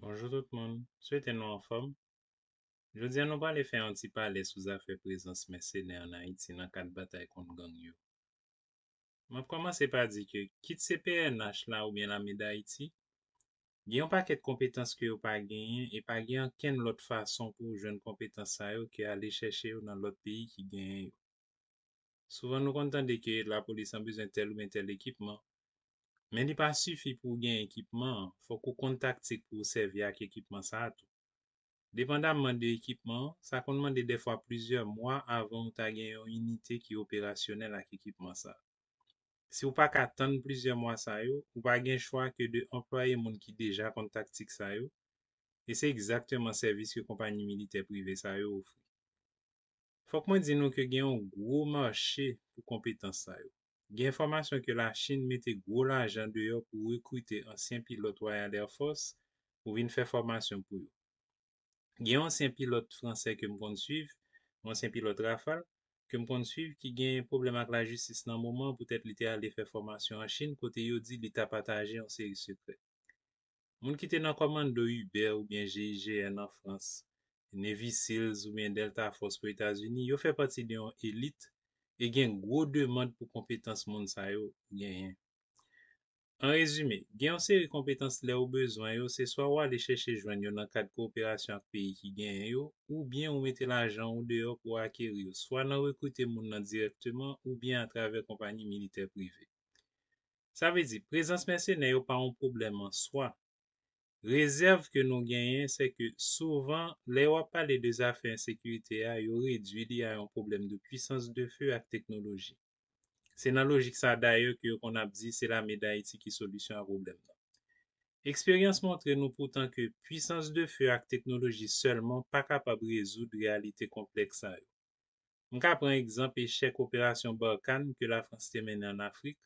Bonjou tout moun, swete nou anfòm. Jodi a nou prale fè yon ti pale sou zafè prezans mèsenè an Ayiti nan kad batay kont gang yo. M ap kòmanse pa di ke kit se pnh la oubyen lame Dayiti, gen yon pakèt konpetans ke yo pa genyen e pa gen ankenn lòt fason pou ou jwenn konpetans sa yo ke ale chèche yo nan lòt peyi ki genyen yo. Souvan nou konn tande ke lapolis lan bezwen tèl oubyen tèl ekipman, men li pa sifi pou ou gen ekipman an, fòk ou konn taktik pou ou sèvi ak ekipman sa a tou. Depandamman de ekipman an, sa konn mande dèfwa plizyè mwa avan ou ta gen yon inite ki operasyonèl ak ekipman sa a. Si ou pa ka tann plizyè mwa sa yo, ou pa gen chwa ke de anplwaye moun ki deja konn taktik sa yo, e se egzakteman sèvis ke konpanyi militè prive sa yo ofri. Fòk mwen di nou ke gen yon gwo mache pou konpetans sa yo. Gen enfòmasyon ke Lachin mete gwo lajan deyò pou rekrite ansyen pilòt Royal Air Force pou vin fè fòmasyon pou yo. Gen yon ansyen pilòt fransè ke m konn swiv, yon ansyen pilòt Rafale, ke m konn swiv ki gen pwoblèm ak lajistis nan moman an poutèt li te ale fè fòmasyon an Chin kote yo di li ta pataje yon seri sekrè. Moun ki te nan kòmando Uber oubyen GIGN an Frans, Navy Seals oubyen Delta Force pou Etazini, yo fè pati de yon elit e gen gwo demand pou konpetans moun sa yo genyen. An rezime, gen yon seri konpetans lè ou bezwen yo, se swa ou ale chèche jwenn yo nan kad kowoperasyon ak peyi ki genyen yo oubyen ou mete lajan ou deyò pou akeri yo swa nan rekrite moun nan dirèkteman oubyen atravè konpayi militè prive. Sa vle di, prezans mèsenè yo pa yon pwoblèm an swa. Rezèv ke nou genyen se ke souvan lè yo ap pale de zafè ensekirite a yo redui li a yon pwoblèm de pwisans de feu ak teknoloji. Se nan lojik sa dayè ke yo konn ap di se lame Dayiti ki solisyon a pwoblèm nan. Eksperyans montre nou poutan ke pwisans de feu ak teknoloji sèlman pa kapab rezoud reyalite konplèks sa yo. M ka pran egzanp echèk operasyon Barkhane ke Lafrans te mennen an Afrik,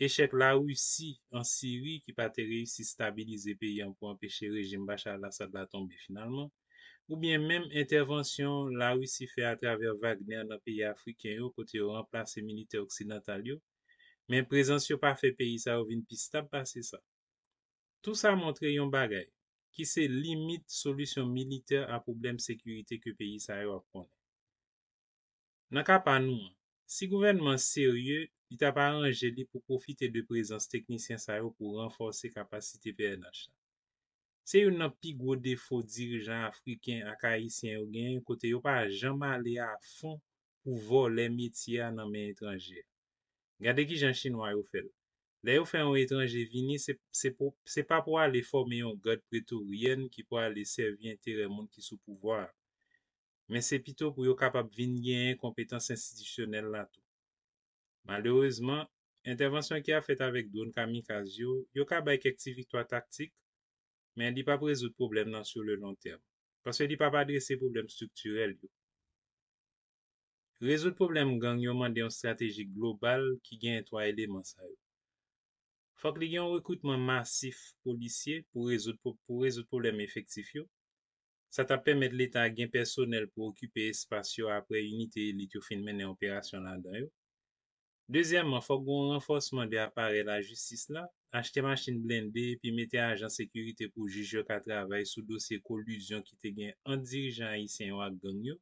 echèk Larisi an Siri ki pa te reyisi stabilize peyi an pou anpeche rejim Bashar al-Assad la tonbe finalman, oubyen menm entèvansyon Larisi fè atravè Wagner nan peyi afriken yo kote yo ranplase militè oksidantal yo, men prezans yo pa fè peyi sa yo vin pi stab pase sa. Tou sa montre yon bagay, ki se limit solisyon militè a pwoblèm sekirite ke peyi sa yo ap konnen. Nan ka pa nou an, si gouvènman an serye, li ta p aranje li pou pwofite de prezans teknisyen sa yo pou ranfòse kapasite pnh la. Se youn nan pi gwo defo dirijan afriken ak ayisyen yo genyen kote yo pa janm ale a fon pou vòlè metye a nan men etranje. Gade kijan chinwa yo fè l. Lè yo fè yon etranje vini, se se pou se pa pou ale fòme yon gad pretorienne ki prale sèvi enterè moun ki sou pouvwa a. Men se pito pou yo kapab vin genyen konpetans enstitisyonèl la tou. Malerezman, entèvansyon ki ap fèt avèk dwon kamikaz yo, yo ka bay kèk ti viktwa taktik, men li p ap rezoud pwoblèm nan sur le long terme. Paske li p ap adrese pwoblèm striktirèl yo. Rezoud pwoblèm gang yo mande yon strateji global ki genyen 3 eleman sa yo. Fòk li gen yon rekritman masif polisye pou rezoud pou rezoud pwoblèm efektif yo. Sa t ap pèmèt leta a gen pèsonèl pou okipe espas yo aprè inite elit yo fin mennen operasyon ladan yo. Dezyèman, fòk gen yon ranfòsman de aparèy lajistis la, achte machin blende epi mete ajan sekirite pou jij yo ka travay sou dosye kolizyon ki te gen ant dirijan ayisyen yo ak gang yo.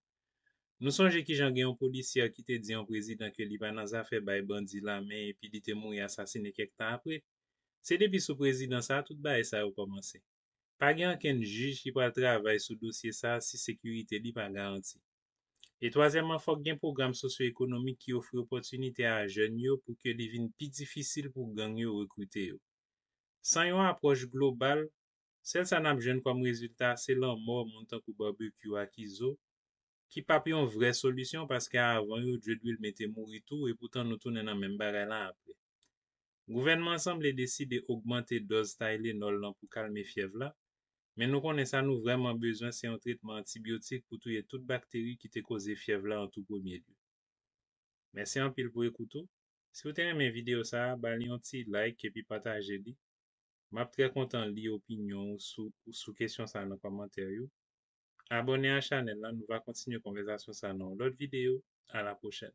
Nou sonje kijan gen yon polisyè ki te di yon prezidan ke li pa nan zafè bay bandi lamen epi li te mouri asasine kèk tan apre. Se depi sou prezidan sa a tout bagay sa yo kòmanse. Pa gen ankenn jij ki pral travay sou dosye sa si sekirite li pa garanti. E twazyèmman fòk gen pwogram sosyo ekonomik ki ofri opòtinite a jèn yo pou ke li vin pi difisil pou gang yo rekrite yo. San yon apwòch global, sèl sa nap jwenn kòm rezilta se lanmò moun tankou Barbecue ak Izo ki pap yon vrè solisyon paske avan yo Dredwill mete mouri tou epoutan nou tounen nan menm bagay la anpre. Gouvènman an sanble deside ogmante dòz Tylenol lan pou kalme fyèv la, men nou konnen sa nou vrèman bezwen se yon tretman antibyotik pou touye tout bakteri ki te koze fyèv la an tou premye lye. Mèsi anpil pou ekout ou. Si ou te renmen videyo sa a, ba li yon ti like epi pataje li. M ap trè kontan li opinyon ou sou ou sou kesyon sa a nan kòmantè yo. Abòne a chanèl la, nou va kontinye konvèzasyon sa a nan yon lòt videyo. Alapwochèn!